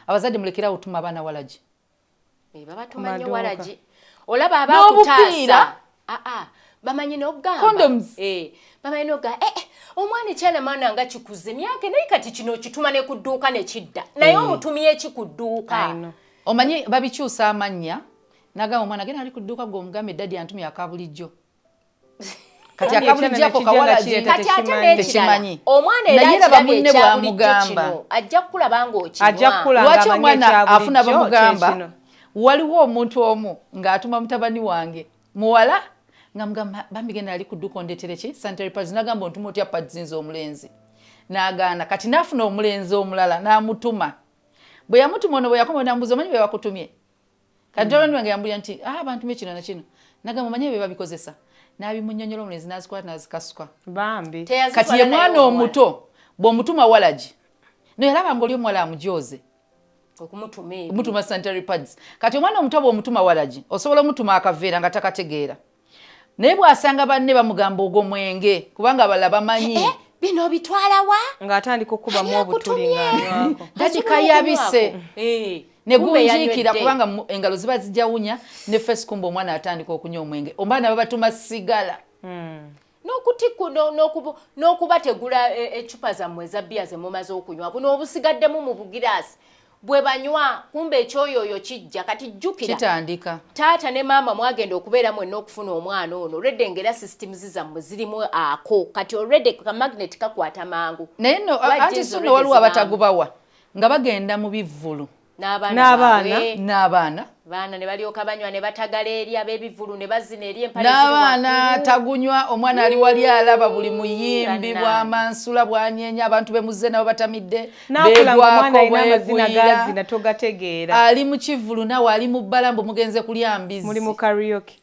abazadde mulekera otuma abaana walagi babatuma nyo walagi olaba abakutaasa ah, ah. bamanyi nogambabamanyi eh, noga eh, eh, omwana ekyana maana nga kikuze myaka naye kati kino okituma ne ku dduuka ne kidda naye mm. omutumye eki ku dduuka omanyi babikyusa amannya nagamba omwana gena ali ku dduuka gwe omugambe eddadi antumya akabulijjo kati akabulijjako kawalakati ate nekirala omwana era akirabye ekyabulijjo kino ajja kukulaba ng'okinwalwaki omwana afuna bamugamba waliwo omuntu omu ng'atuma mutabani wange muwala nga mugamba bambi genda ali kuduka ondetereki sanitary pads nagamba ontuma otya pads nze omulenzi nagaana kati nafuna omulenzi omulala namutuma bwe yamutuma ono bwe yakoma namubuza omanyi bwe bakutumye kati joloni wange yambuya nti ah, abantu mekino nakino nagamba manye bebabikozesa nabimunyonyola omulenzi nazikwata nazikasuka bambi kati ye mwana omuto bwomutuma walagi no yalaba nga oli omuwala amujooze okumutuma sanitary pads kati omwana omuto bwomutuma walagi osobola omutuma akaveera nga takategeera naye bwasanga banne bamugamba ogwo mwenge kubanga abalala bamanyi eh, eh, bino obitwalawa ngaatandika okukubamu obutuli ngaalabika yabise eh, negunjiikira kubanga engalo ziba zijawunya ne fesikumba omwana atandika okunywa omwenge omwana babatuma sigala hmm. n'okutikku n'okubategula e, eccupa zammwe eza bbiya ze mumaze okunywa buno obusigaddemu mu bugiraasi bwe banywa kumba ekyoyooyo kijja kati jjukira kitandika taata ne maama mwagenda okubeera mwenna okufuna omwana ono olwedde ngaera systems zammwe zirimu ako kati olwedde ka magnet kakwata mangu naye no anti sunno waliwo abatagubawa nga bagenda mu bivvulu n'abaana n'abaana baana ne balyoka banywa ne batagala eri ab'ebivulu ne bazina eri empale n'abaana tagunywa omwana ali wali alaba buli muyimbi bwa mansula bwanyeenya abantu be muzze nabo batamidde beegwako bwegwira togategeera ali mu kivulu nawe ali mu bbala mbu mugenze kulya mbizi muli mu karaoke